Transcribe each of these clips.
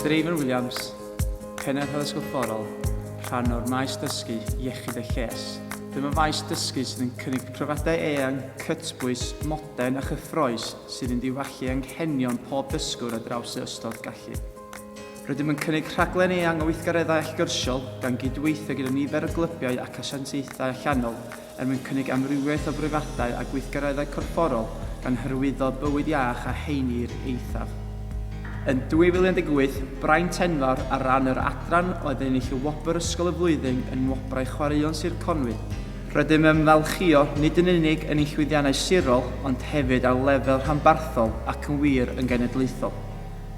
Stephen Williams, Pennaeth Addysg Gorfforol, rhan o'r maes dysgu iechyd a lles. Dyma faes dysgu sydd yn cynnig profiadau eang, cytbwys, modern a chyffroes sydd yn diwallu anghenion pob dysgwr ar draws ei ystod gallu. Rydym yn cynnig rhaglen eang o weithgareddau allgyrsiol gan gydweithio gyda nifer o glybiau ac asiantaethau allanol er mwyn cynnig amrywiaeth o breifathau a gweithgareddau corfforol gan hyrwyddo bywyd iach a heini i'r eithaf. Yn 2018, braint enfawr ar ran yr adran oedd ennill y wobr Ysgol y Flwyddyn yn Nwobrau Chwaraeon Sir Conwy. Rydym yn ymfalchïo nid yn unig yn ein llwyddiannau sirol ond hefyd ar lefel rhanbarthol ac yn wir yn genedlaethol.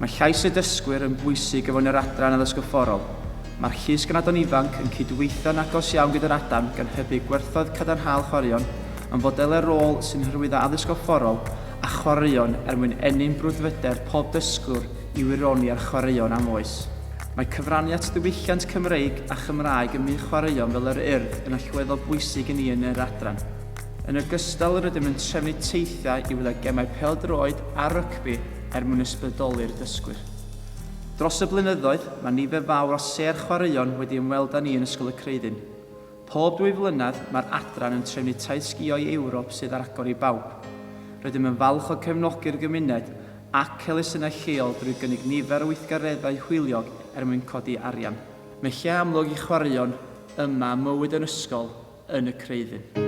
Mae llais y dysgwyr yn bwysig o fewn yr Adran Addysg Gorfforol. Mae'r Llys Ganadon Ifanc yn cydweithio'n agos iawn gyda'r Adan gan hybu gwerthoedd cadarnhaol chwaraeon mewn fodelau rôl sy'n hyrwyddo addysg gorfforol a chwaraeon er mwyn ennyn brwdfrydedd pob dysgwr i wironi ar chwaraeon am oes. Mae cyfrannu at ddiwylliant Cymreig a Chymraeg ym myd chwaraeon fel yr Urdd yn allweddol bwysig i ni yn yr Adran. Yn ogystal rydym yn trefnu teithiau i wylio gemau pêl-droed a rygbi, er mwyn ysbrydoli'r dysgwyr. Dros y blynyddoedd, mae nifer fawr o sêr chwaraeon wedi ymweld â ni yn Ysgol y Creuddyn. Pob dwy flynedd, mae'r adran yn trefnu taith sgïo i Ewrop sydd ar agor i bawb. Rydym yn falch o gefnogi'r gymuned ac elusennau lleol drwy gynnig nifer o weithgareddau hwyliog er mwyn codi arian. Mae lle amlwg i chwaraeon yma a mywyd yn ysgol yn y Creuddyn.